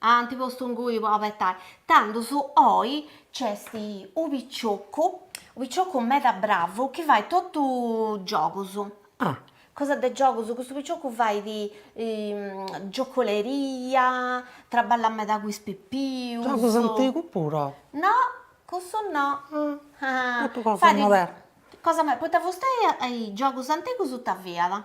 Ant postu ingui po abetai. Tandus oi nc'est unu picioccu, unu picioccu meda bravu chi fait totu giogus, cosas de giogus, custu picioccu fait giocoleria, traballat meda cun is pipius. Giogus antigus puru? No, custu no. Totu cosa modernus. Cosa, poita fustei giogus antigus ita fiat?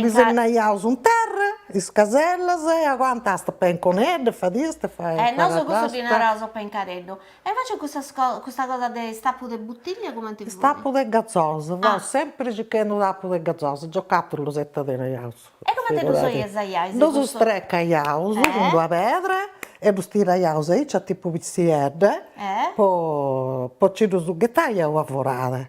Disegnaiaus in terra is casellas e aguantast peinconedda, fadiast e fadiast. E nosu cussu ddi naraus pencareddu. E invecias cussas cosas, custa cosa de is tapus de butiglia cumenti fut? Is tapus de gazosa, fuaus sempri circhendu tapu de gazosa, giocàtulus e ita tenaiaus. E cumenti ddus usaiais? Ddus strecaiaus cun d'una pedra e ddus tiraiaus aici a tipu pitziedda po nci ddus ghetai a una forada.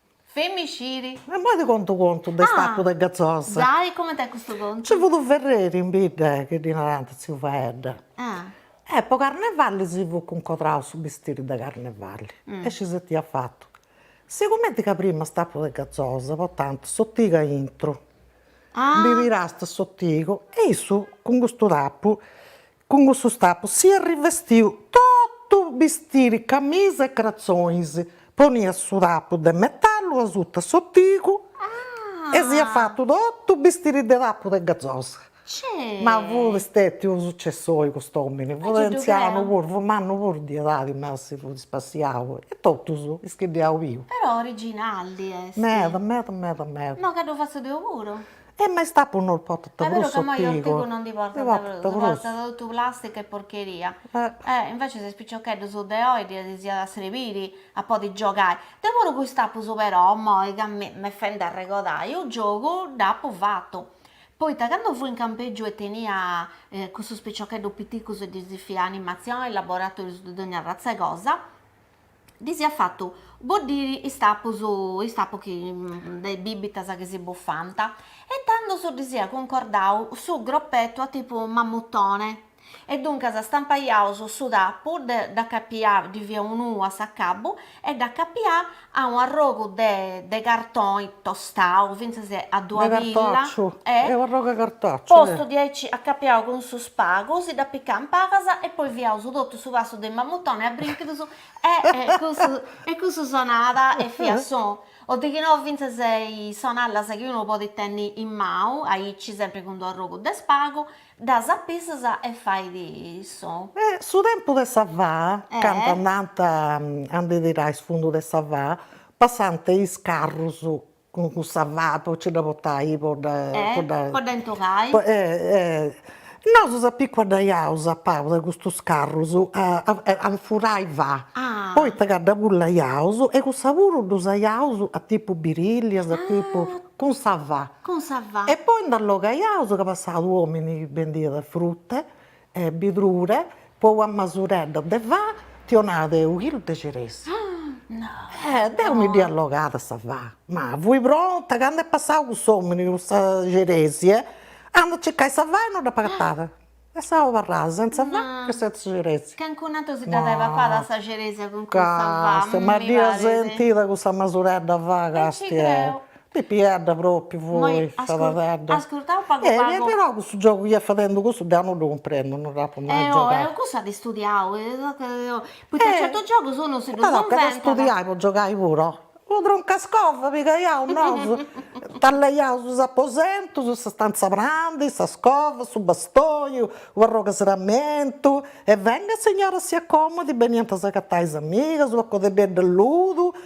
Femixiri. E imoi ti contu u contu de is tapus de gazosa. Ah giai, coment'est custu contu? Nci fut u ferreri in bidda chi ddi narant tziu Faedda. E po carnevali si fut cuncodrau su bistiri de carnevali e nci si dd'iat fatu. Sigumenti ca prima is tapus de gazosa portànt s'otigu aintru, ndi tirast s'otigu e issu cun custu tapu Cun custus tapus s'iat rivestiu totu bistiri camisa e cratzonis, poniat su tapu de metallu asuta s'otigu e s'iat fatu totu bistiri de tapu de gazosa. Ma fut stètiu unu sucessoi cust'òmini, fut antzianu puru, fut mannu puru de edadi, ma si fut spassiau e totus is chi dd'iaus biu. Però originalli est. Meda meda meda meda. No ca ddu fatzu deu puru. E ma is tapus no potant prus otigu. Est ca imoi otigu no ndi portant prus, ndi portat totu plastica e porcheria. E invece is piciocheddus de oi ddis diat a srebiri a podi giogai. Deu puru cun is tapus però imoi ca m'est fendi a arregodai, u giogu dd'appu fatu. Poita candu fui in campegiu e tenia cussus piciocheddus piticus e ddis fia animazioni, laboratorius de dogna arratz'e cosa ddis ia fatu boddiri is tapus is tapus chi de is bibitas chi si bufant e intandus ddis ia cuncordau su groppetu a tipu mammutone e duncas stampaiaus su tapu dd'acapià ddi fia unu nuu a s'acabu e dd'acapià a u' arrogu de de cartoni tostau fintzas a dua pilla e, postu diaici acapiau cun su spagu, si dd'apicà in pabas e poi fiaus totu su passu de Mamutoni a brinchidus e e cussu sonat e fiat sonu. O de chi no fintzas is sonallas chi unu podit tenni in mau aici sempri cun d'u arrogu de spagu, ddas apissas e fait sonu. E su tempus de sa faa, candu andant a ndi tirai is fundus de sa faa Passant is carrus cun sa fa po nci dda portai po dda po dda po dda intregai. Nosu si apiculaiaus a palas de custus carrus a ndi furai fa, poita ca dda spullaiaus e cussa puru dd'usaiaus a tipu birillias a tipu, cun sa fa. Cun sa fa. E poi nd'allogaiaus ca passat u' omini chi bendiat frutta E birdura po una masuredda de fa ti 'onat unu chilu de ciresa. E deu mi dd'ia allogada sa fa, ma fui pronta, candu est passau cuss'omini cun sa ciresia, andu a circai sa fa e no dd'ap'agatada. E seu abarrada sentza fa e sentza ciresia. Calincunu ateru si dd'at a essi papada sa ciresia cun cussa fa, mi parit. Ma dd'ia sentida cussa masuredda 'e fa ca est. Pipiedda propriu fui sa paghedda. Ascurtau pagu pagu. Eh però cussu giogu chi iant fadendu cussu deu non ddu cumprendu, non dd'apu mai giogau. Eh oe, cosa de studiai, poita certus giogus unu si ddus inventat. Ma tocat a studiai po giogai puru, oh. Unu troncascova pigaiaus nosu, tallaiaus is aposentus, sa stanza 'e prandi, sa scova, su bastoni, u' arrogu 'e serramentu, e venga signora si accomodi, beniant a s'agatai is amigas, una codeddedda 'e ludu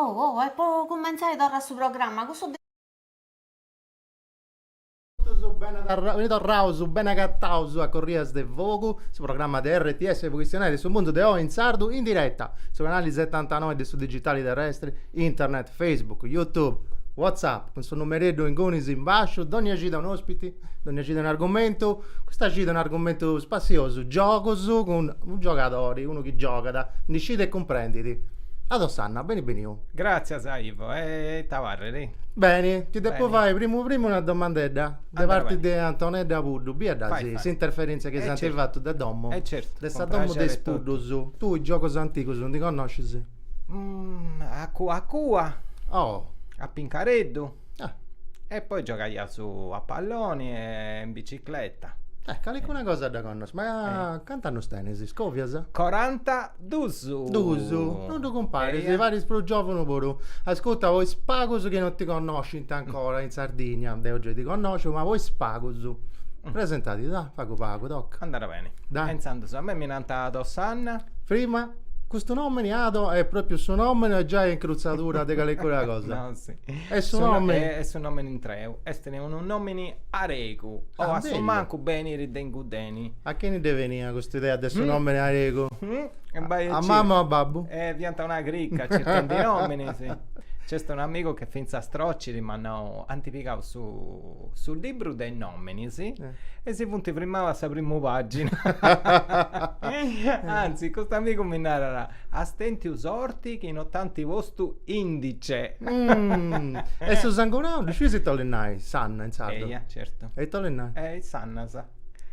Oh oh e po cumentzai torra su programma cussu Beni torraus, beni agataus a Corrias de Fogu, su programma de rts pro chistionai de su mundu de oi in sardu in diretta, su canali setantanoi de su digitali terrestri, internet, facebook, youtube, whatsapp, cun su numereddu ingunis in basciu, dònnia cida un'òspiti, dònnia cida un'argumentu, custa cida un'argumentu spassiosu, giogus cun unu giogadori, unu chi giogat, ndi sciit e cumprendit. Ado Sanna, beni beniu. Gràtzias a Ivo, e ita parret? Beni, ti depu fai primu primu una domandedda de parti de Antonedda Puddu, biu dd'asi s'interferèntzia chi s'ant fatu de domu, de sa domu de is Puddus, tui is giogus antigus ndi connoscis? A cua a cua, a pincareddu. Ah. E poi giogaiaus a palloni e in bicicletta. Eh, calicuna cosa dda connosciu, ma eh. cantu annus tenis? Scovias? Coranta dus. Dus, non ddu cumparis, eh, paris prus giovunu puru. Ascurta, po is pagus chi non ti connoscint ancora in Sardigna, deu giai ti connosciu, ma po is pagus, presentadi, da, pagu pagu, toca. Andat beni. Da. E intzandus a mei mi nant Ado Sanna. Prima, custu nomini Ado est propriu su nomini o giai incruzadura de calicuna cosa? No, si. Est su nòmini. Est su nòmini intreu. Est unu nòmini aregu. O ah, a su mancu beniri de ingudeni. A chini ddi beniat custa idea de su mm. nòmini aregu? Mm? A mama o a babbu? Eh, fiant una cricca circhendi nòminis. Nc'est un amigu che fintzas trociri m'at nau, ant pigau su, su libru de is nòminis eh. e si funt frimaus a sa primu pàgina. Anzi, cust'amigu mi narat, As tentiu sorti chi no t'ant postu indice. E su sangunau, ddu sciis ita 'olit nai Sanna in sardu? Eia, certu. E ita 'olit nai? E is sannas.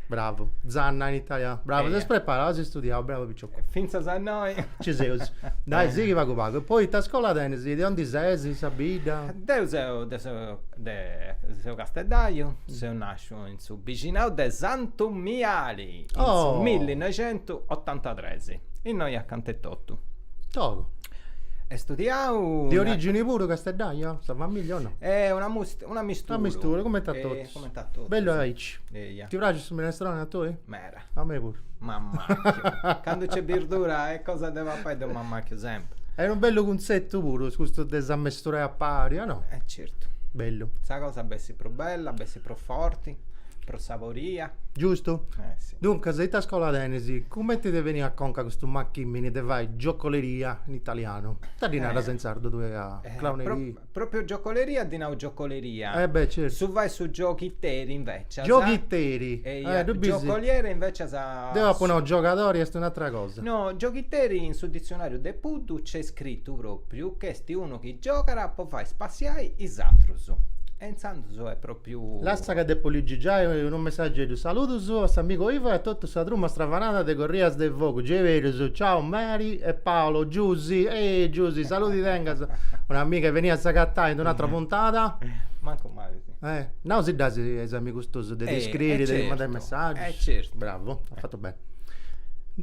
Bravu. Zanna in italianu. Bravu, ses preparau, as istudiau, bravu picioccu. Fintzas a innoi. Ci seus. Dai, sighi pagu pagu. E poi ita scola tenis? De ondi ses, sa bidda? Deu seu de su deu seu casteddaiu, seu nasciu in su bixinau de Santu Miali, in su oh. millinoixentusotantatres. Innoi acanta etotu. Togu. E studiau... De origini puru casteddaia, sa famiglia o no? E una, must- una mistura. Una mistura, comente a totus. Comente a totus. Bellu aici. Eia. Ti praxit su minestroni a tui? Mera. A mei puru. M'ammacchiu. Candu c'est birdura e cosa de papai deu m'ammacchiu sempri. Est unu bellu cunzettu puru, custu de si ammesturai a pari, o no? Eh certu. Bellu. Sa cosa bessit prus bella, bessit prus forti, prus saboria. Giustu? Eh sì. Duncas, ita scola tenis? Cumenti ti benit a conca custu macchimini de fai giocoleria in italianu? Ita ddi naras in sardu tui a clowneria? Propriu giocoleria ddi nau giocoleria. Eh beh certu. Su fai su gioghiteri invecias. Gioghiteri. Eia, giocoliere invecias. Deu apu nau giogadori est un'atra cosa. No, gioghiteri in su ditzionariu de Puddu nc'est scritu propriu ch'est unu chi giogat po fai spassiai is atrus. E intzandus est propriu. Lassa ca depu ligi giai unu messageddu, Saludus a s'amigu Ivo e a totu sa truma stravanada de Corrias de Fogu, Geiberus, Ciau Mary e Paolo, Giusy, ehi Giusy, saludi tengas un'amiga e beni a s'agatai in un'atra puntada. Mancu mali si. Eh, nau si dd'asi is amigus tuus de ti scriri, de ti mandai messaggius. Eh certu. Bravu. Beh.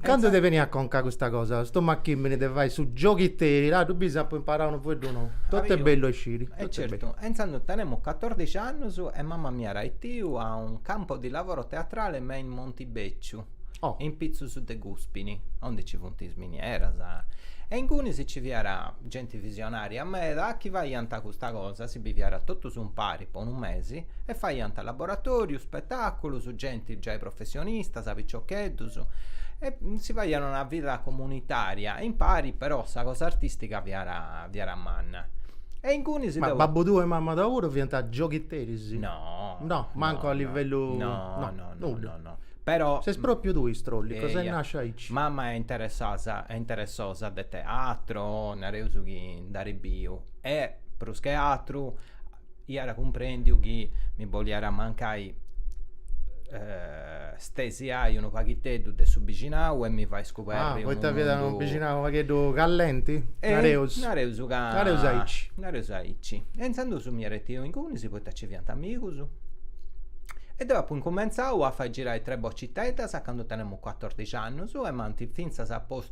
Cando ti benit a conca custa cosa, custu macchimini de fai su gioghiteri, laddu, bis, apu imparau unu fueddu nou. Totu est bellu a isciri. E certu, e intzandus tenemu catordixi annus e mama mi iat arretiu a un campo di lavoro teatrale me in Montibecciu, Oh. in pitzus de Guspini, onde nci funt is minieras, e inguni nci fiat genti visionaria meda chi faiant custa cosa, si biviat totus umpari po unu mesi e faiant laboratorius, spetaculus, genti giai professionistas, piciocheddus e si faiat una vida comunitaria impari però sa cosa artistica fiat fiat manna e ingunis ma babbu tuu e mamma tua puru fiant gioghiteris? no no mancu no, a livellu no no no, no, nudda. no, no. però ses propriu tui istrollicu ses nasciu aici mamma est interessasa est interessosa de teatro nareus chi nd'at biu e prus che atru Iat cumprendiu chi mi boliat mancai stesiai unu paghiteddu de su bixinau e mi fai scuberri unu mundu... Ah, poita fiat unu bixinau unu pagheddu callenti? Nareus. Nareus ca... Nareus aici. Nareus aici. E intzandus m'at arretiu ingunis poita nci fiant amigus e deu apu incumentzau a fai girai tres bociteddas a candu tenemus cuatordixi annus e m'ant fintzas postu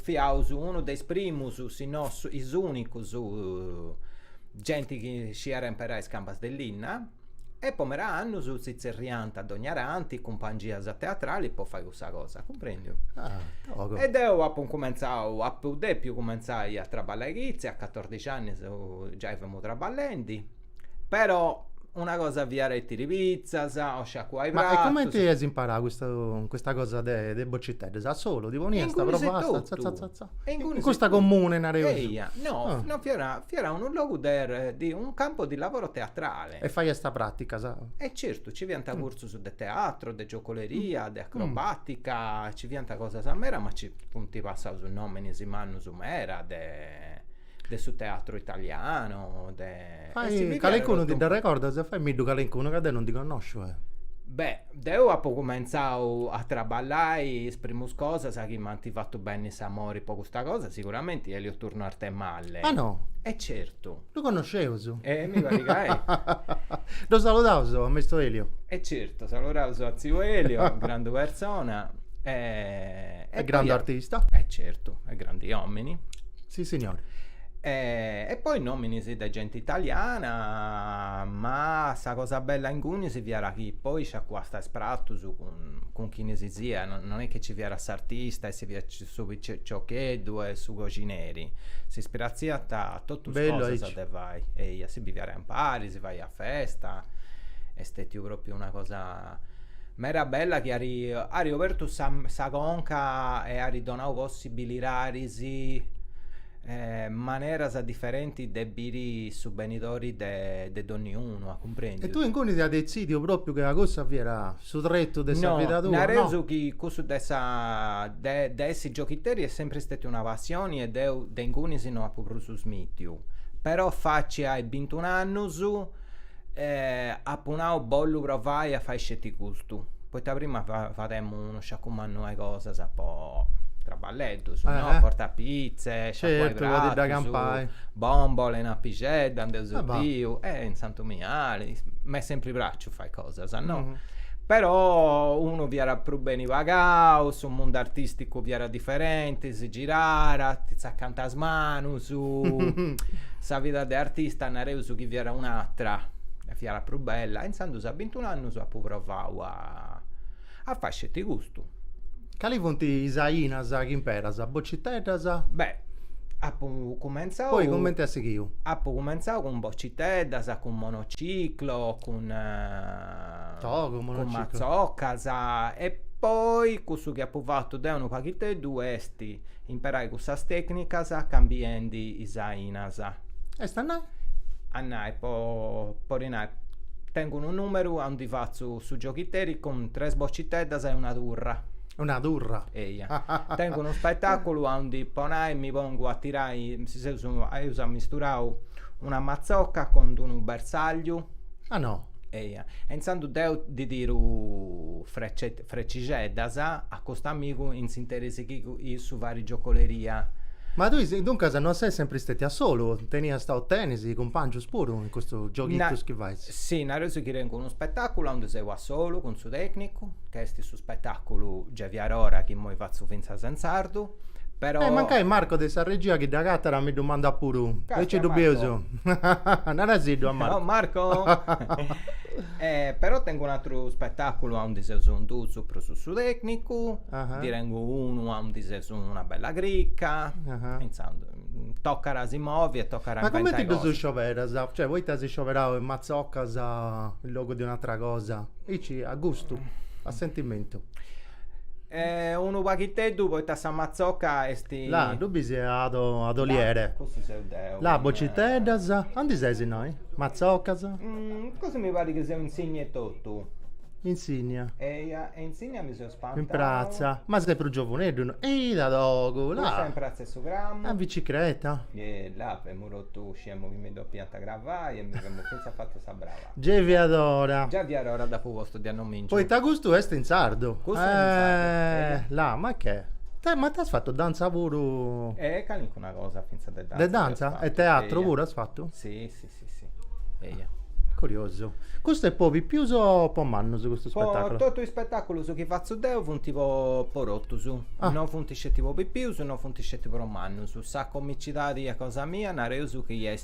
Fiaus unu de is primus, si no is unicus, genti chi sciiat imperai is cambas de linna e po meda annus si tzerriant a dogna tanti is cumpangias teatralis po fai cussa cosa, cumprendiu? E deu apu cumentzau, apu depiu cumentzai a traballai chitzia, a catordixi annus giai femu traballendi Però una cosa fiat a betiri pitzas o sciacuai pratus. Ma e comente as imparau custu custa cosa de de bociteddas? A solu ti poniast pro basta tza tza tza tza. E ingunis e totu. Custa comune nareus. Eia, no, no fiat fiat unu logu de de un campo di lavoro teatrale. E faiast praticas. E certu, nci fiant cursus de teatro, de giocoleria, de acrobatica, nci fiant cosas medas ma nci funt passaus nominis mannus meda de de su teatru italianu, de... Fai calincunu, ti dd'arrecordas? Fai-mi-ddu calincunu ca deu non ndi connosciu, eh! Beh, deu apu cumentzau a traballai, is primus cosas chi m'ant fatu benni s'amori po custa cosa, siguramenti Elio Turno Arthemalle. Ah no? E certu. Ddu connosceus? E mi parit ca eia. Ddu saludaus a maistu Elio. E certu, saludaus a tziu Elio, grandu persona. E grandu artista. E certu, e grandi omini. Si signori. E poi nominis de genti italiana ma sa cosa bella ingunis fiat chi poi sciacuasta is pratus cun chini si siat non est chi nci fiat s'artista e nci fiat su piciocheddu e su coxineri s'ispiratziant totus cosas de fai eia si biviat impari si faiat festa est stetiu propriu una cosa Meda bella chi ari ari obertu sa sa conca e ari donau possibilidadis e maneras diferentis de biri su benidori de de donniunu, cumprendis?. E tui inguni ti as detzidiu propriu ca cussu fiat su tretu de sa vida tua? No, nareus chi cussu de sa de de essi gioghiteri est sempri stetiu una passioni e deu de ingunis no apu prus smitiu. Però faci ai bintun'annus Eh, apu nau bollu provai a fai sceti custu, poita prima fademu unu sciacu mannu 'e cosas po traballeddus no, portai pitze, sciacuai pratus, bombole in apixedda, nd'eus biu, e in Santu Miali, m'est sempri praciu fai cosas no, però unu fiat prus beni pagau, su mundu artisticu fiat diferenti, si girat, ti tzacant is manus Su, sa vida de artista nareus chi fiat un'atra, fiat prus bella, e intzandus a bintun'annus apu provau a a fai sceti custu. Cali funt is ainas chi imperas, bociteddas? Beh, apu cumentzau. Poi cumenti at sighiu? Apu cumentzau cun bociteddas, cun monociclo, cun, togu, monociclo. Cun matzocas e poi cussu chi apu fatu deu unu paghiteddu est Imperai cussas tècnicas cambiendi is ainas. Est a nai? A nai, po po ti nai, tengu unu nùmeru aundi fatzu su gioghiteri cun tres bociteddas e una turra. Una turra? Eia. Tengu unu spetàculu aundi, po nai, mi pongu a tirai, si seus, eus ammisturau una matzoca cun d-unu bersagliu. Ah no? Eia. E intzandus deu ddi tiru Frecixeddas, a custu amigu in s'interis chi issu fait giocoleria. Ma tui duncas non ses sempri stètiu a solu, teniast o tenis cumpàngius puru in custus gioghitus chi fais? Si, nareus chi tengu unu spetàculu aundi seu a solu cun su tècnicu, ch'est su spetàculu Giai fiat ora chi imoi fatzu fintzas in sardu. Però. E mancai Marco de sa regia chi dd'agatat mi ddu mandat puru, aici ddu bius. Narasiddu a Marco. Ciao Marco. Però tengu un'atru spetaculu aundi seus in dus prus su su tecnicu, ndi tengu unu aundi seus una bella cricca, intzandus tocat a si movi e tocat a inventà. Ma cumenti ddus scioberas? Cioè poita as scioberau is matzocas in logu de un'atra cosa? Aici a gustu, a sentimentu. Eh, unu paghiteddu poita sa matzocca est. La, ddu bis a adoliere. La, cussu seu deu. La, bociteddas. Andi ses innoi? Matzoccas? Cussu mi parit chi seu in Sinnia etotu. In Sinnia? Eia, e in Sinnia mi seu spantau. In pratza? Ma ses prus giovuneddu innoi. Eh, ita togu, la. Cussa in pratza 'e su Cramu. A bicicreta? La, femu totu, sciemu chi mi depiant cravai e mi femu fintzas fatu sa braba. Gei fiat ora. Già fiat ora dd'apu postu de annomìnciu. Poita custu est in sardu. Custu est in sardu, eja. Eh, la, ma che? Ma tui as fatu dantza puru? Eh, calincuna cosa fintzas de dantza. De dantza? E teatru puru as fatu? Si, si, si, si, eja. Curiosu. Custu est po pipius o po mannus custu spettaculu? Po totu is spettaculus chi fatzu deu funt po po totus. Ah. No funt sceti po pipius, no funt sceti po mannus. Sa comicidadi cosa mia nareus chi est.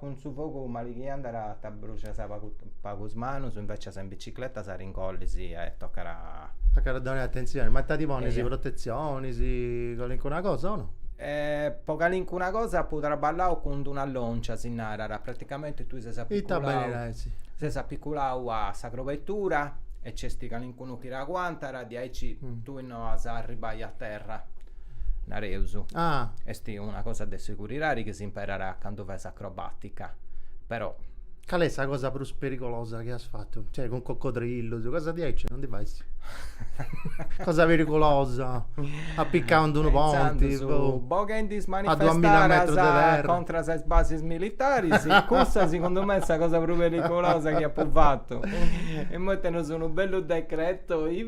cun su fogu mali chi andas a t'abbruxas pagu pagu is manus invecias in bicicletta s'arrogalla-tzugu e tocat. Tocat a donai attenzioni, ma ita ti ponis protetzionis, calincuna cosa o no? po calincuna cosa apu trabballau cun d'una loncia si narat, praticamenti tui ses apiculau ses apiculau a sa crobettura e nc'est calincunu chi t'aguantat diaici tui No as a arribai a terra, nareus. Ah. Est una cosa de seguridadi chi s'imperat candu fais acrobàtica. Però. Cali est sa cosa prus perigolosa chi as fatu? Cioè, cun coccodrillus, cosa diaici non ndi fais? cosa perigolosa? Apicau in d'unu ponti? Pensandu, boghendi is manifestadas contra sas basis militaris, cussa segundu mei est sa cosa prus perigolosa chi apu fatu. Imoi tenus unu bellu decreto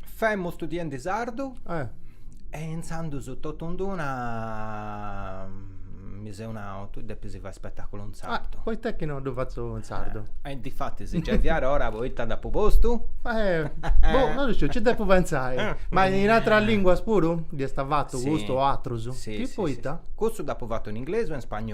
Femu studiendi sardu eh. e intzandus totu in d'una mi seu nau, tui depis fai spetaculu in sardu. Ah, poita est chi no ddu fatzu in sardu? Eh, e difatis giai fiat ora poita dd'apu postu? Eh, boh, non isciu, nci depu pentzai. Eh, Ma in ateras linguas puru dd'as fatu custu o atrus? Chi poita? Custu dd'apu fatu in inglesu e in spagnolu.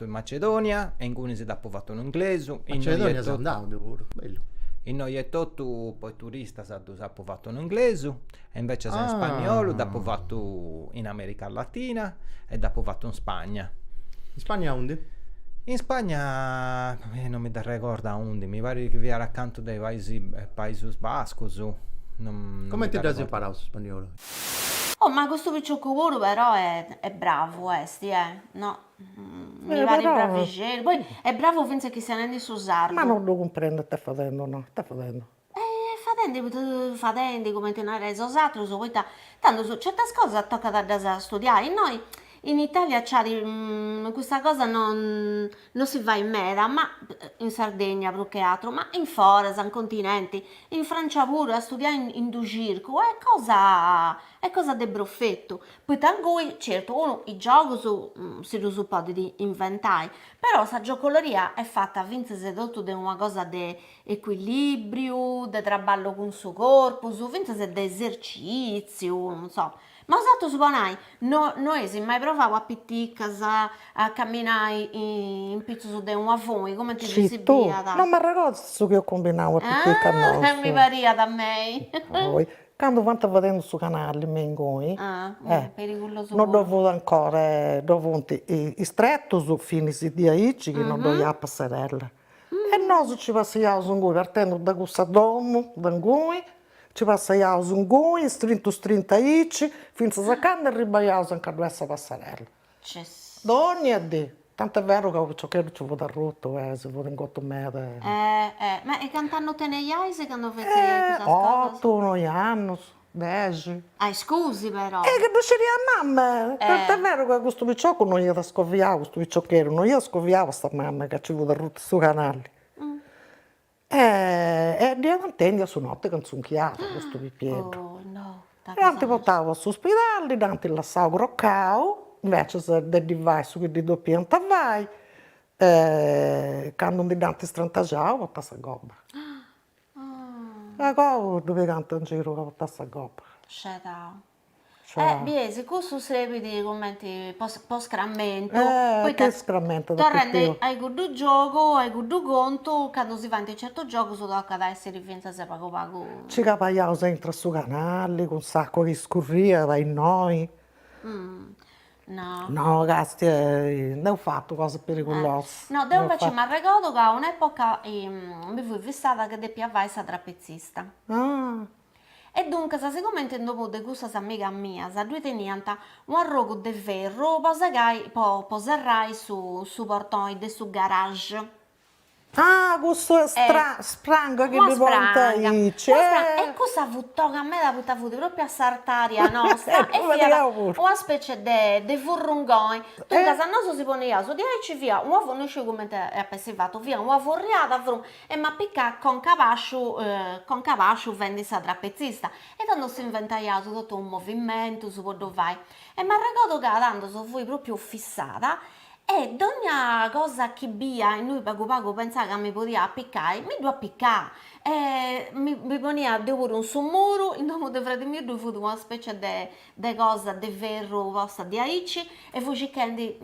Apu in Macedonia e ingunis dd'apu fatu in inglesu. In Macedonia seu andau deu puru, bellu. Innoi etotu po is turistas ddus apu fatu in inglesu e invecias in spagnolu dd'apu fatu in America Latina e dd'apu fatu in Spagna. In Spagna aundi? In Spagna non mi dd'arregordu aundi, mi parit chi fiat acantu de is Paisi Paisus Bascus. Cumenti dd'as imparau su spagnolu? Oh ma custu piciocu puru però è bravu esti eh no Mi parit bravixeddu, poi est bravu fintzas chistionendi su sardu. Ma no ddu cumprendu it'est fadendi no, it'est fadendi. E fadendi poita fadendi cumenti nareis 'osatrus poita tantu su certas cosas tocat a ddas studiai, innoi in Italia acciadi custa cosa non non si fait meda, ma in Sardegna prus che atru, ma in foras, in continenti, in Francia puru a studiai in in su circu est cosa est cosa de profetu Poita insomma, certu unu is giogus si ddus podit inventai, però sa giocoloria est fata fintzas e totu de una cosa de ecuilìbriu, de traballu cun su corpus, fintzas de esercìtziu, non so. Ma bosatrus po nai, no no eis mai provau a piticas a caminai in pitzus de una funi, cumenti ddu-i si biiat. Scis tui, no m'arregordu su chi eus cumbinau a piticas nosu. Ah, mi pariat a mei. Candu fant fadendu su canali me inguni no ddoi fut ancora ddoi funt is tretus finis diaici chi no ddoi iat passerella e nosu nci passaiaus inguni partendu de cussa domu de inguni nci passaiaus inguni istrintu istrintu aici fintzas a candu arribaiaus anca ddoi est sa passerella. Dònnia dì, tant'est beru ca unu piciocheddu nci fut arrutu e si fut ingotu meda e. Eh, ma e cant'annus teneiais candu fetzeis cussas cosas? Otu, noi annus, dexi. Ah, e scusi però! Eh, ca no ddu sciriat mama! Tant'est beru ca custu piciocu no iat scoviau, custu piciocheddu, no iat scoviau a sa mama ca nci fut arrutu su canali. E e dd'iat intèndiu a su noti ca intzunchiàt custu pipieddu. Dd'ant portau a s'uspidali, dd'ant lassau crocau, invecias de ddi fai su chi ddi depiant fai, candu ndi dd'ant strantaxau portàt sa gobba. E agoa ddu pigànt in giru ca portàt sa gobba. Scedau. Eh, biesi, cussu serbit cumenti po scrammentu, poita torrendi a cuddu giogu, a cuddu contu, candu si faint certus giogus tocat a essi fintzas pagu pagu. Nci cabaiaus aintru a su canali cun s'acua chi scurriat innoi. No. No, Casti, nd'eus fatu cosas periculosas. No, deu invecias m'arregodu ca un'epoca mi fui fissada ca depia fai sa trapetzista. Ah E duncas sigomente in domo de cussas amigas mias ddui teniant u' arrogu de ferru po segai po po serrai su su portoni de su garage. Ah cussa spranga chi ddi ponint aici. E cussa fut toga meda poita fut propriu a s'artaria nosta e fiat una specie de de furrungoni. Duncas nosu si poniaus diaici fiat una fu no sciu cumenti ap'essi fatu fiat una furriada fru E m'apicà conca a bàsciu conca a bàsciu fendi sa trapetzista e tando s'inventaiaus totu unus movimentus po ddu fai e m'arregodu ca tandos fui propriu fissada e dogna cosa chi bia innui pagu pagu pentzà ca mi podia apicai mi ddu apicà e mi mi ponia deu puru in su muru in domu de fradi miu ddui fut una specie de de cosa de ferru posta diaici e fui circhendi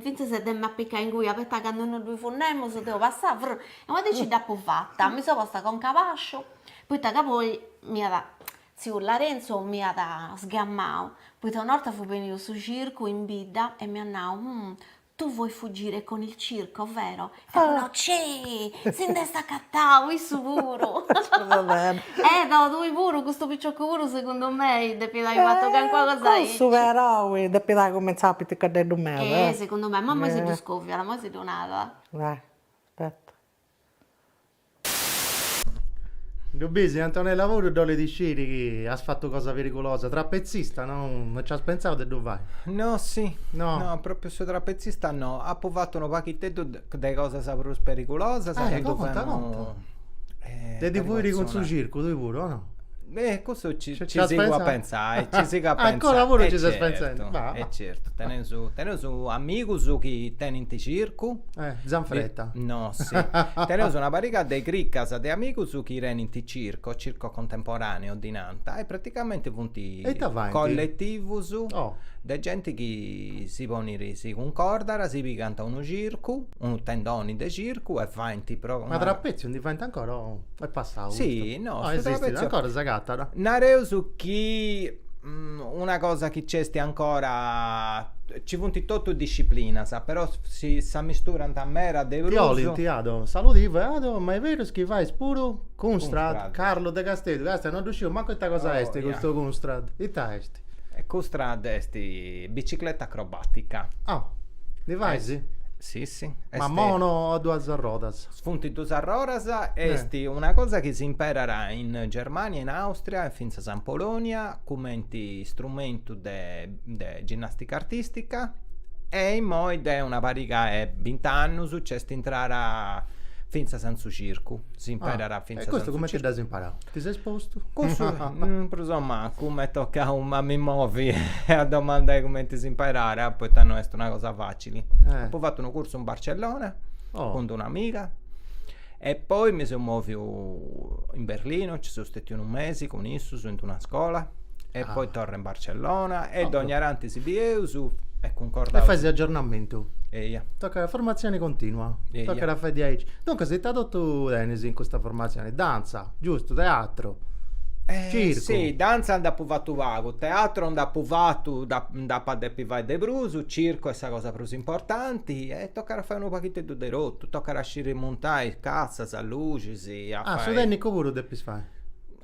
fintzas de m'apicai ingui poita candu no ddu fut nemus deu passà frrr e una dì ci dd'apu fata mi seu posta conca a bàsciu poita ca poi m'iat tziu Larenzu m'iat sgamau poita una 'orta fut beniu su circu in bidda e m'iat nau Tu vuoi fuggire con il circo, vero? E poi no, ceh! Si nd'est acatau, issu puru! Va bene. Eh, no, tui puru, custu piciocu puru segundu mei depit ai fatu calincuna cosa aici. Cussu però depit ai cumintzau a piticaddeddu meda, eh. Eh, segundu mei, ma moi si ddu scoviat, moi si ddu narat. Aspetta. Ddu bisi Antonella puru ddu 'olit isciri chi as fatu cosa perigulosa, trapetzista no nci as pentzau de ddu fai. No si no no propriu su trapetzista no apu fatu unu paghiteddu de cosas prus perigulosas. Ah ecco conta conta. De ti fuiri cun su circu tui puru o no. Eh, custu ci, ci, ci sigo a pensare, eh, ci sigo a pensare. Ancora pure eh, ci certo, pensando. Ma... Eh certo, teneus, teneus amigus chi tenint circu. Eh, Zanfretta. Di... No, sì. teneus una pariga de cricas de amigus chi tenint circo, circo contemporaneo di Nanta, e praticamente funt colletivus oh. de genti chi si ponit, si concordat, si pigant unu circu, unu tendoni de circu e faint... Pro... Ma trapezio ndi faint ancora? Oh. Est passadu custu? Si, no, su trapetzio. Esistit ancora, s'agatat? Nareus chi una cosa chi nc'est ancora, nci funt totus disciplinas, però si s'amisturant meda de prus. Ti 'olint Ado saludivu e Ado, ma est berus chi fais puru Kunstrad? Carlu de Casteddu, castia no ddu sciu mancu ita cosa est custu Kunstrad, ita est? Kunstrad est bicicleta acrobatica. Ah, ndi fais? Si, si. Ma mono o duas arrodas? Funt dus arroras, est una cosa chi s'imperat in Germania, in Àustria e fintzas in Polonia cumenti istrumentu de de ginnàstica artìstica e immoi de una pariga 'e bint'annus nc'est intrada fintzas in su circu, s'imperat fintzas in su circu. E custu cumenti dd'as imparau? Ti ses postu? Cussu prus o mancu m'est tocau a mi movi e a domandai cumenti s'imperat poita no est una cosa facili. Apu fatu unu cursu in Barcellona oh. cun un'amiga e poi mi seu moviu in Berlino, ci seu stetiu unu mesi cun issus in una scola e ah. poi torra in Barcellona e oh. dogna tanti si bieus e concordaus. E fai s'aggiornamentu. Eia. Tocca la formazione continua. Eia. Toccat a fai diaici. Duncas ita totu tenis in custa formazione, danza, giusto, teatro. Eh, Circo. Sì, danza nd'apu fattu pagu, teatro nd'apu fattu, nd'apu a depi fai de prus, circu est sa cosa prus prus importanti e tocat a fai unu paghiteddu de totu, tocat a sciri muntai cassas, luxis, a fai. Ah, su tènnicu puru depis fai?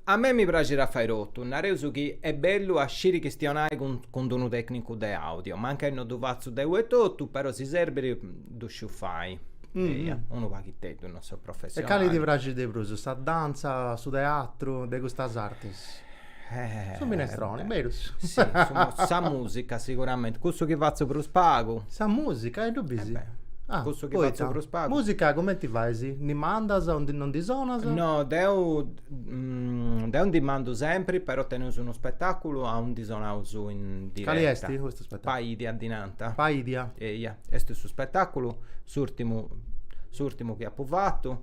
A mei mi praxit a fai totu, nareus chi est bellu a sciri chistionai cun unu tècnicu de àudio, mancai no ddu fatzu deu etotu, però si serbit ddu sciu fai, eia, unu paghiteddu, no seu professionali. E cali ti praxit de prus, sa dantza, su teatru, de custas artis? Eh. Su minestrone, berus. Sì, sa musica sicuramente, cussu chi fatzu prus pagu. Sa musica, e ddu bisi. Eh Ah, cussu chi fatzu prus pagu. Musica cumenti fais? Ndi mandas o non ndi sonas? No, deu deu ndi mandu sempri, però teneus unu spetaculu aundi sonaus in diretta. Cali esti custu spetaculu? Paidia ddi nanta. Paidia. Eia, esti su spetaculu, s'urtimu s'urtimu chi apu fatu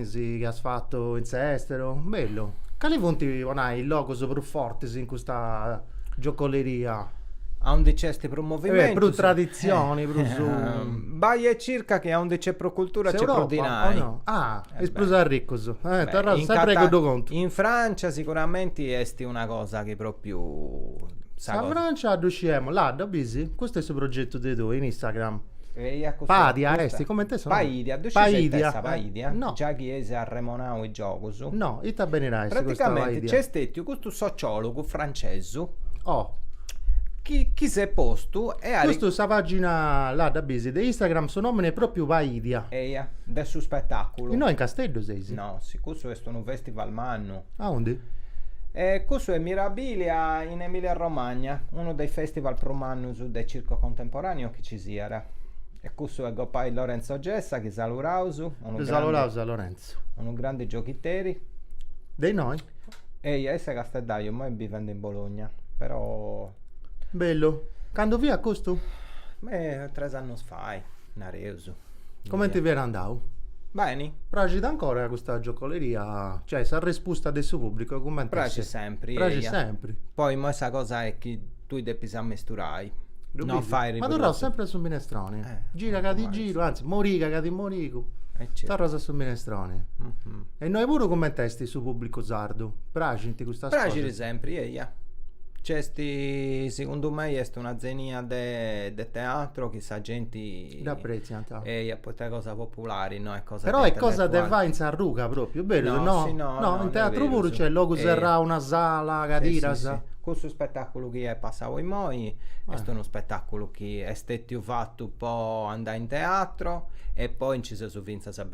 Si chi as fatu in s'esteru. Bellu. Cali funt po nai is logus prus fortis in custa giocoleria? Aundi nc'est prus movimentu. Prus traditzioni, prus. Bai e circa chi aundi nc'est prus cultura nc'est prus dinai. S'Europa o no? Ah, is prus arricus. Torraus sempri a cuddu contu. In Francia siguramenti est una cosa chi propriu. Sa Francia ddu sciemus, ladda, bisi? Custu est su progetu de tui in Instagram? Eia cussa Pàdia custa- est, comente sonat? Paidia, ddu scieis ite est sa Paidia? Paidia? No. Già chi eis arremonau in giogus. No, ite benit a essi custa Praticamenti Paidia? nc'est stètiu custu sociòlogu francesu Oh, chi chi s'est postu Eh custu sa pàgina là, dda bis de Instagram su nòmini est pròpriu Paidia. Eia, de su spetàculu. Innoi in Casteddu seis? No, custu est unu festival mannu. Aundi? E cussu est mirabilia in Emilia Romagna, unu de is festival prus mannus de circo contemporaneo chi ci siat. E cussu est gopai Lorenzo Gessa chi saluraus, unu grandi Saluraus a Lorenzo. unu grandi gioghiteri. De innoi? Eia, issu est casteddaju, immoi bivendi in Bologna, però Bellu. Candu fiat custu? Tres annus fai, nareus. Comente fiat andau? Beni. Praxit ancora custa giocoleria, cioè sa respusta de su pubblicu comente est? Praxit sempri, eia. Praxit sempri. Poi immoi sa cosa est chi tui depis ammesturai, non fai riprodusi. Ma torraus sempri a su minestroni, gira ca ti giru, anzi moriga ca ti morigu, torraus a su minestroni. E innoi puru comente est su pubblicu sardu? Praxint custas cosas? Praxit sempri, eia. Nc'est, segundu mei, est una zenia de teatro chi sa genti Dd'apprètziant. Eia, poita est cosa populari, no est cosa de Però est cosa de fai in sa ruga pròpriu, berus, no? No, si, no, no, no, in teatru puru, berus. nc'est logu serrau, una sala, cadiras. Si, si, si. Cussu spetàculu chi est passau imoi est unu spetàculu chi est stètiu fatu po andai in teatru e poi nci seus fintzas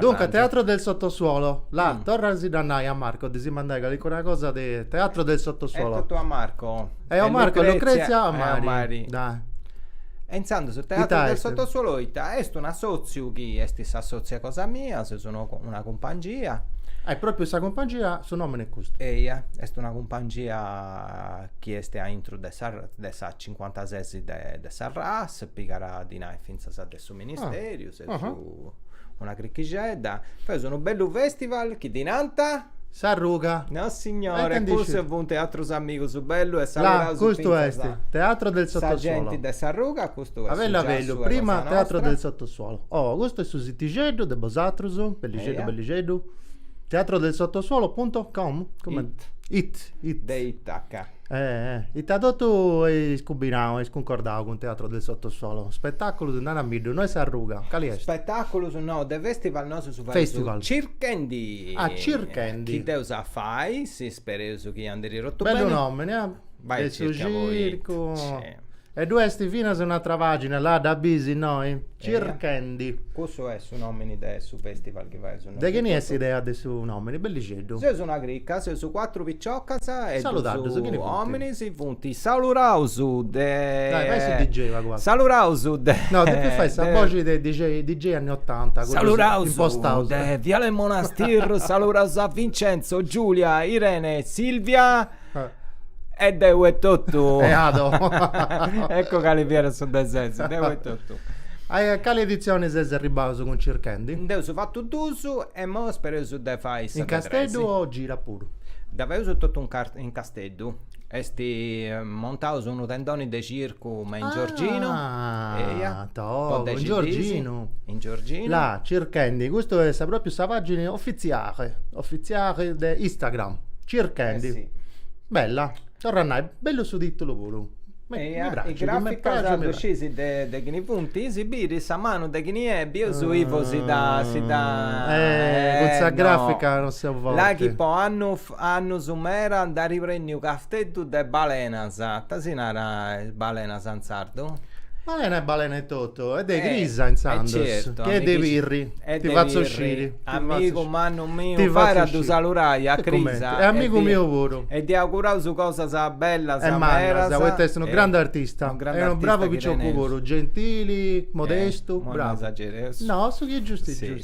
Duncas, Teatro del sottosuolo, la, torra a si ddu nai a Marco de si mandai calicuna cosa de Teatro del sottosuolo. E totu a Marco. E o Marco, Lucrezia a mari. Dai. E intzandus su Teatro del sottosuolo ita est un assotziu chi est s'assotziu cosa mia, seus una una cumpangia. E propriu sa cumpangia su nomini est custu. Eia, est una cumpangia chi est a intru de sa de sa cincuantasessi de de sa RAS, pigat dinai fintzas de su ministeriu, seus Una cricchixedda. Feus unu bellu festival chi ddi nanta? S'arruga. Nossignore, e cussu funt atrus amigus bellus e saludaus fintzas. Custu est Teatro del Sottosuolo. Sa genti de s'arruga, custu est su giassu de cosa nostra. A bellu a bellu, prima Teatro del Sottosuolo. Oh, custu est su sitixeddu de bosatrus, bellixeddu bellixeddu. Teatrodelsottosuolo.com? It. It. It. De Itaca. Ita totu eis cumbinau, eis cuncordau cun Teatro del Sottosuolo, spetàculus, naramiddu, no est s'arruga, cali est? Spetàculus no, de festival nosu fadeus Circhendi, chi dd'eus a fai, si spereus chi andit totu beni. Bellu nomini, eh, de su circu. E ddu est finas un'atra pàgina, la dda bis innoi? Circhendi. Eia, cussu est su nòmini de su fèstival chi faeus nosu. De chini est s'idea de su nòmini? Bellixeddu. Seus una crica, seus cuatru piciocas e duus òminis, funt saluraus de. Dai, fai su DJ pagu. Saluraus de. No, depis fai sa boxi de DJ anni otanta, cuddus impostaus. Saluraus de Viale Monastir, saluraus a Vincenzo, Giulia, Irene, Silvia. E deu etotu. E Ado. Ecco cali fiat su de ses, deu etotu. A cali editzioni seis arribaus cun Circhendi? Nd'eus fatu duus e imoi spereus de fai sa de tres. In Casteddu o gira puru? Dda feus totu in Casteddu. Est montaus unu tendoni de circu me in Giorginu. Ah! Togo, in Giorginu. In Giorginu. La Circhendi, custu est propriu sa pagina ofitziali, ofitziali de Instagram, Circhendi. Eh si. Bella, torru a nai, bellu su titulu puru. Ma e is graficas ddu sciis de chini funt, si biri sa manu de chini est, bieus Ivo si dda si dda Eh cun sa grafica non seu forti. La chi po annu Annus mera nd'ari prenniu Casteddu de balenas, ita si narat balenas in sardu? Balena est balena etotu, est de Crisa intzandus, chi est de Pirri, ti fatzu sciri. Amigu mannu miu, abarrat a ddu salurai a Crisa. E amigu miu puru. E ddi auguraus cosas bellas e mannas, poita est unu grandu artista e unu bravu picioccu puru, gentili, modestu, bravu. No, su chi est giustu est giustu.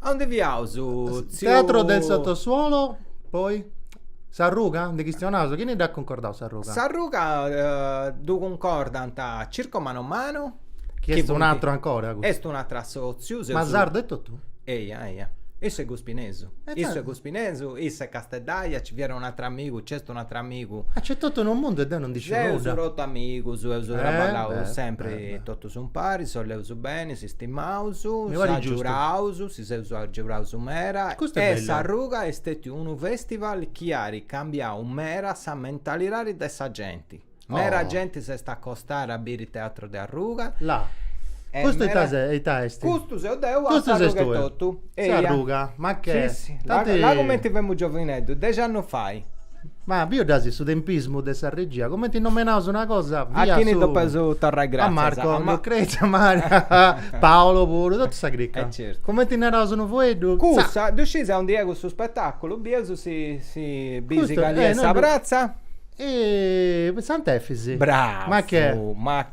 Aundi fiaus? Tziu... Teatro del sottosuolo, poi... S'arruga? Nde chistionaus? Chini dd'at cuncordau s'arruga? S'arruga ddu cuncordant Circo Mano a Mano... Chi est un'atru ancora custu. Est un'atru assotziu. Ma sardu etotu? Eia, eia. Issu est guspinesu. Issu est guspinesu, issa est casteddaja, nci fiat un'atru amigu, nc'est un'atru amigu. Ah, nc'est totu unu mundu e deu non ndi sciu nudda. Seus totu amigus, eus traballau sempri totus umpari, si boleus beni, si stimaus, s'agiuraus, si seus agiuraus mera e s'arruga est stetiu unu festival chi ari cambiau mera sa mentalidadi de sa genti. Mera genti s'est acostara a biri teatro de arruga. La. Custu ita se, ita est? Custu seu deu a s'arruga etotu. S'arruga, ma che. Si, si, la cumenti femu giovineddu, dexi annus fai. Ma biu dd'as su tempismu de sa regia, cumenti nomenaus una cosa, A chini ddu depeus torrai gratzias a Marco, a Ma- Lucrezia, Mario, Paolo puru, totu sa cricca. E certu. Cumenti naraus unu fueddu, tza! Cussa, ddu sciis a undi est cussu spetaculu, bieus si si bi Custu, si cali eh, est no sa ddu- pratza? E Sant'Efisi. Bravu, Ma che? ma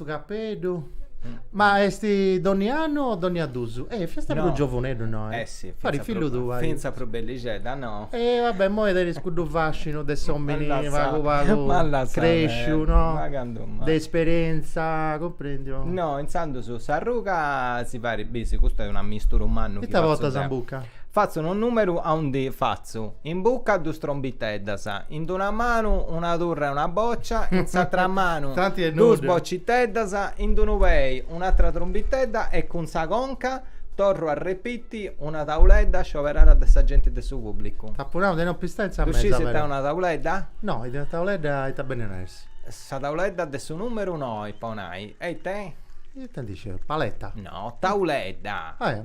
Capeddu. Ma est donni annu o donnia dus? Eh, fiasta no, prus giovuneddu, no? Eh, eh sì, pari fillu tua. Finza pro bellixedda, no. E eh, vabbè, immoi tenis cuddu fascinu de s'omini pagu pagu cresciu, no? Ma candu mai. De esperienza, cumprendi? No, intzandus S'Arruga si fait, bisi, custu est un'ammisturu mannu chi fatzu deu. Ita botas in bucca? Fatzu unu numeru a unu D, fatzu. Fatzu in buca dus trombiteddas, in d'una manu una turra e una bòcia, in s'atra manu dus bociteddas, in d'unu pei un'atra trombitedda e cun sa conca, torru a repiti, una tauledda scioberada de sa genti de su pùblicu. T'apu nau de no pistai in sa mesa, però. Ddu sciis ita est una tauledda? No, ita est una tauledda e ita benit a essi? Sa tauledda de su nùmeru noi, po nai. E ita est? Ita ndi sciu, paleta? No, tauledda. Ah, eja.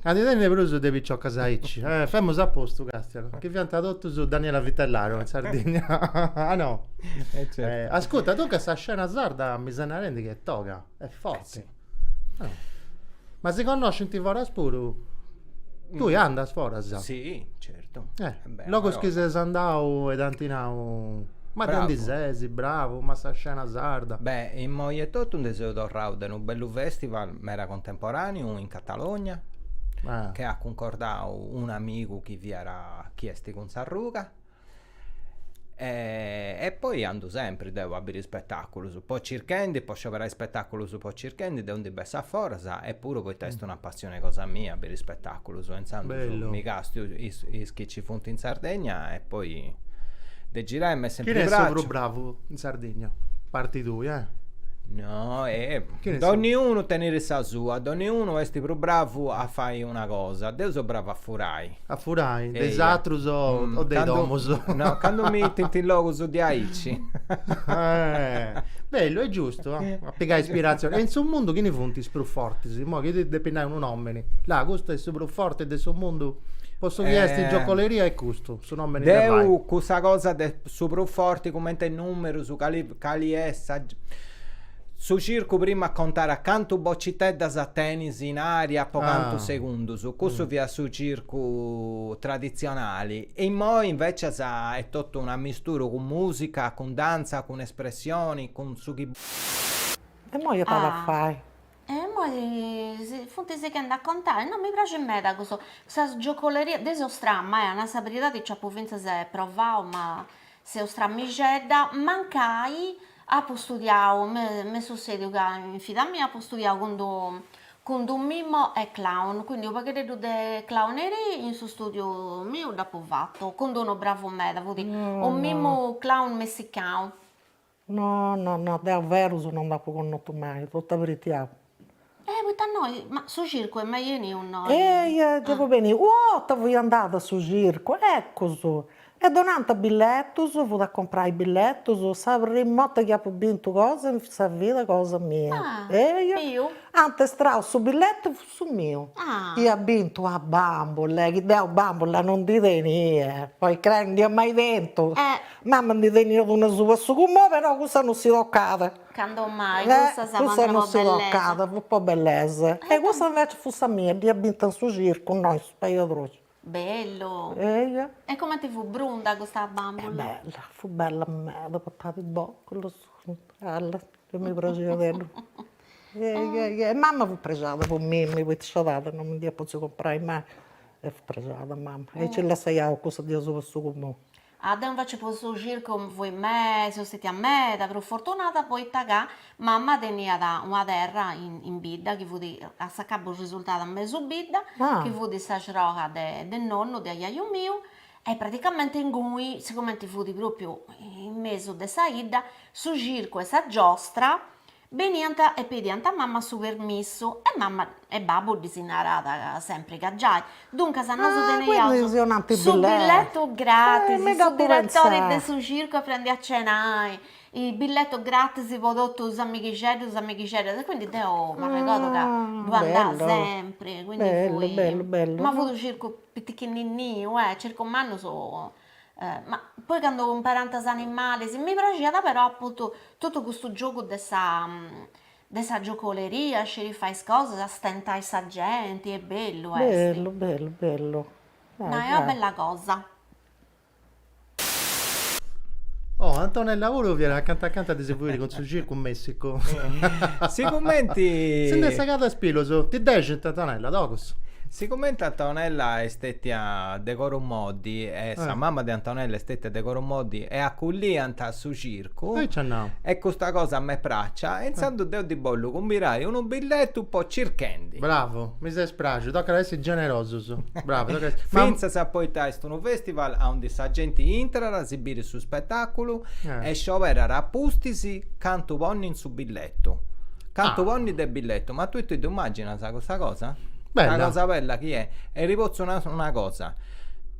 Ca ndi tenit prus de piciocas aici. Eh, femus a postu, Càstianu, chi fiant totus Daniela Vitellaro in Sardigna. Ah no? Eh certu. Ascurta, duncas sa scena sarda mi ses narendi chi est toga, est forti. Ma si connoscint foras puru? Tui andas foras? Si, certu. Eh, logus chi ses andau e t'ant nau, ma de undi ses, bravu, ma sa scena sarda. Beh, immoi etotu ndi seu torrau de unu bellu festival meda contemporaneu in. Catalogna che at cuncordau unu amigu chi fiat chi est cun S'Arruga e poi andu sempri deu a biri spetaculus po circhendi po scioberai spetaculus po circhendi deu ndi bessu aforas e puru poita est una passioni cosa mia a biri spetaculus e intzandus mi castu is chi Chi funt in Sardegna e poi de girai m'est sempri praxiu. Chini est su prus bravu in Sardegna? A parti tui, eh? No, e donniunu tenit sa sua, donniunu est prus bravu a fai una cosa, deu seu bravu a furai. A furai, de is atrus o de is domus? No, candu m'intendint in logus diaici. Bellu, est giustu, a pigai ispiratzioni. E in su mundu chini funt is prus fortis? Imoi chi depi nai unu nomini. Là, custu est su prus forti de su mundu? Po su chi est giocoleria est custu su nomini de fai? Deu cussa cosa de su prus forti cumenti 'e numerus, cali cali est sa su circu prima a contai a cantu bociteddas tenis in aria po cantu segundus, custu fiat su circu traditzionali e immoi invecias est totu un'amistura cun musica, cun dantza, cun espressioni, cun su chi. E immoi iat a fai E imoi si funt sighende a contai, no mi praxit meda cussu. Sa giocoleria, deu seu stramma, a nai sa beridadi nci apu fintzas provau ma seu stramixedda, mancai apu studiau, m'est sussediu ca in vida mia apu studiau cun d'unu mimu e clown, quindi unu paghedeeddu de clowneria in su studiu miu dd'apu fatu, cun d'unu bravu meda, fut unu mimmu clown messicanu No, no, no, deo ferus no nd'apu connotu mai, totu a beridadi. Eh, poita innoi, ma su circu est mai 'enniu innoi? Eh, giai apu biu, una 'orta fui andada a su circu, ecus, e donànt billetus, fut a comporai billetus, sa primu 'orta chi apu bintu cosa in sa vida cosa mia, eia, ant estrau su billetu Su miu iat bintu sa bàmbula chi deo bambula non ndi tenia, podis crai, non dd'ia mai tentu, mama ndi teniat una apitzu 'e su cumò, però cussa non si tocàt, candu mai, cussa non si tocàt, fut po bellesa, e cussa invecias fut sa mia, dd'ia bintu in su circu, no in su pajadroxu Bellu. Eja. E comenti fut brunda custa bambula? Bella, fut bella meda, portàt is boculus, bella, chi mi praxiat tzeddu. Eja, eja, e mama fut prexada po mimi, poita s'iscedada non mi nd'iat potziu comporai mai e fut prexada mama e nci lassaiaus cussa diaici apitzu 'e su cumò. Ah, deu invece po su circu fui, seu stetia meda prus fortunada poita ca mama teniat una terra in in bidda chi fut a s'acabu risultada a mesu bidda chi fut s'arrogu de de nonnu de ajaju miu e praticamente ingui sigumenti fut propriu in mesu de sa idda su circu 'e sa giostra Beniant e pediant a mamma su permissu e mamma e babbu ddis narànt sempri ca giai, duncas nosu teneiaus su billetu gratis, su diretori de su circu a prandi e a cenai, billetu gratis po totus is amighixeddus, is amighixeddas e quindi deu m'arregodu ca ddu andà sempri, quindi fui, ma fut u' circu pitichininniu, eh, circu mannu Ma poi candu cumparint is animalis mi praxiat però appuntu totu custu giogu de sa de sa giocoleria, sciri fai is cosas, istentai sa genti, est bellu est. Bellu bellu bellu. No est una bella cosa. Oh Antonella puru fiat acanta acanta de si fuiri cun su circu in Messicu. Sigumenti. Si nd'est segadu a is pillus. Ti dexint, Antonella, togus. Sigumenti Antonella est stetia de coru. Moddi e sa, eh, mama de Antonella est stetia de coru moddi e acolliant a su circu e nc'at nau e custa cosa m'est pràxia e intzandus deu ddi bollu cumbirai unu billetu po Circhendi. Bravu, mi ses praxiu, tocat a essi generosus. Bravu, tocat a essi fintzas poita est unu festival aundi sa genti intrat, si birit su spetaculu e scioberat a pustis cantu ponni in su billetu. Billettu. Cantu ah. ponni de billettu, ma tui ti immaginas custa cosa? Bella. Una cosa bella chi è. E ti potzu nai una cosa.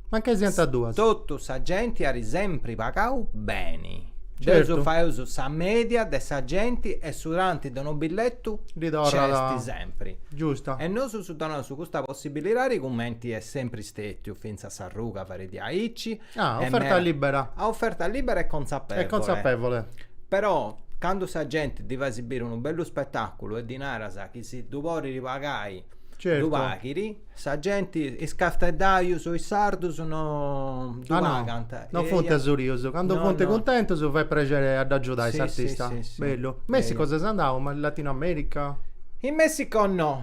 Mancai siant duus? Tottu sa genti ari sempri pagau beni. Certo. Nci faeus sa media de sa genti e su tanti de unu billettu nc'est sempri. Giustu. E nosus donaus custa possibilidadi cumenti est sempri stetiu finzas s'arruga fait aici, Ah, a oferta libera. A oferta libera e consapevole. E consapevole. Però candu sa genti ddi fais biri unu bellu spetaculu e ddi naras chi si ddu podiri pagai certo. ddu paghit, sa genti, is casteddaius o is sardus no ddu ah, pagant. No, non funt asurius, candu no, funt no. cuntentus fait prexeri a ddu agiudai sì, s'artista. Sì, sì, Bellu. Messico ses andau, Latino America? In Messico no.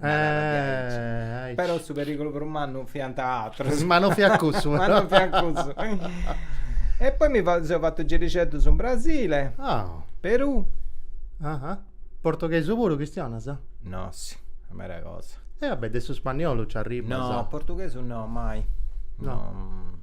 Eh, però su pericolo prus mannu fiant atrus. Ma non fiat cussu. Ma non fiat cussu. e poi mi seu fattu girixeddus in Brasile. Oh. Perù. Ah, ah. Portoghesu puru chistionas? No, si, a mera cosa. E eh, vabbè, de su spagnolu ci arribas. No, portughesu no, mai. No. no.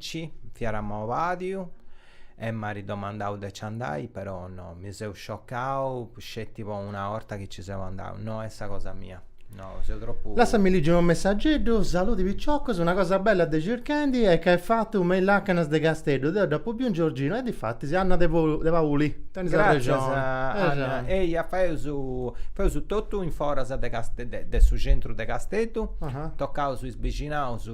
Ci fiat amau bàdiu e m'at domandau de nci andai, però no, mi seu sciocau sceti po una 'orta chi nci seu andau, no est sa cosa mia, no, seu tropu. Lassami ligi unu messageddu, Saludi piciocus, una cosa bella de Circhendi est ca est fatu me is lacanas de Casteddu, deu dd'apu biu in Giorginu e difatis Anna de de Pauli tenis arrexoni. Gràtzias Anna, eia feus feus totu in foras de de su centru de Casteddu, tocaus is bixinaus,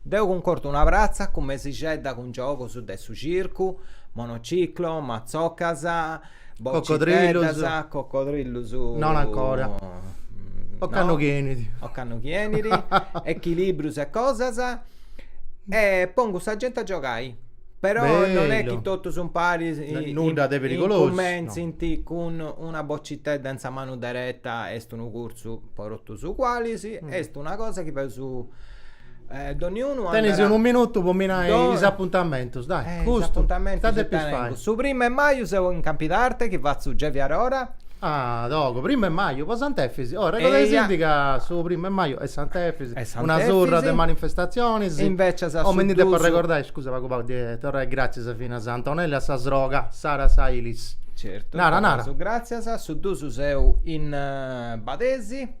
Deu cuncordu una pratza cun mesixedda cun giogos de su circu, monociclo, matzocas, bociteddas, coccodrillus, non ancora, ocannu chi 'enit, ocannu chi 'enit echilibrius e cosas e pongu sa genti a giogai, però non est chi totu sun paris, nudda de perigolosu, incumentzint cun una bocitedda in sa manu dereta est unu cursu po totus ugualis, est una cosa chi peus Eh, doniunu andarat... Tenis unu minutu po mi nai Do... is apuntamentus, dai, eh, giustu, is apuntamentus ita depis fai? Su primu 'e maju seu in Campidarte chi fatzu Gevi Arora. Ah, togu, primu 'e maju, po Sant'Efisi, oh, arregodaisindi ca su primu 'e maju est Sant'Efisi, est Sant'Efisi, una surra de manifestatzionis, e invecis a su dusu... Oh, mi ndi depu arregordai, scusa pagu pagu, de torrai gratzias finas a Antonella e a sa sroga, Sara Sailis. Certu, nara, nara. Su gratzias, su dusu seu in Badesi.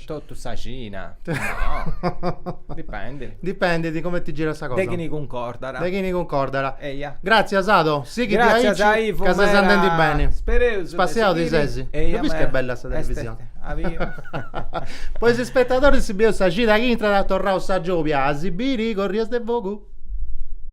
Totu sa cida. No. Dipendit. Dipendit de comenti girat sa cosa. De chini cuncordat. De chini cuncordat. Eia. Gràtzias Ado, sighi aici. Gràtzias Ivo. Ca ses andendi beni. Spereus. Spassiau ti ses. Eia. Ddu bis chi est bella sa televisioni. Po is ispetadoris si bieus sa cida chi intrat torraus sa giobia a si biri Corrias de Fogu.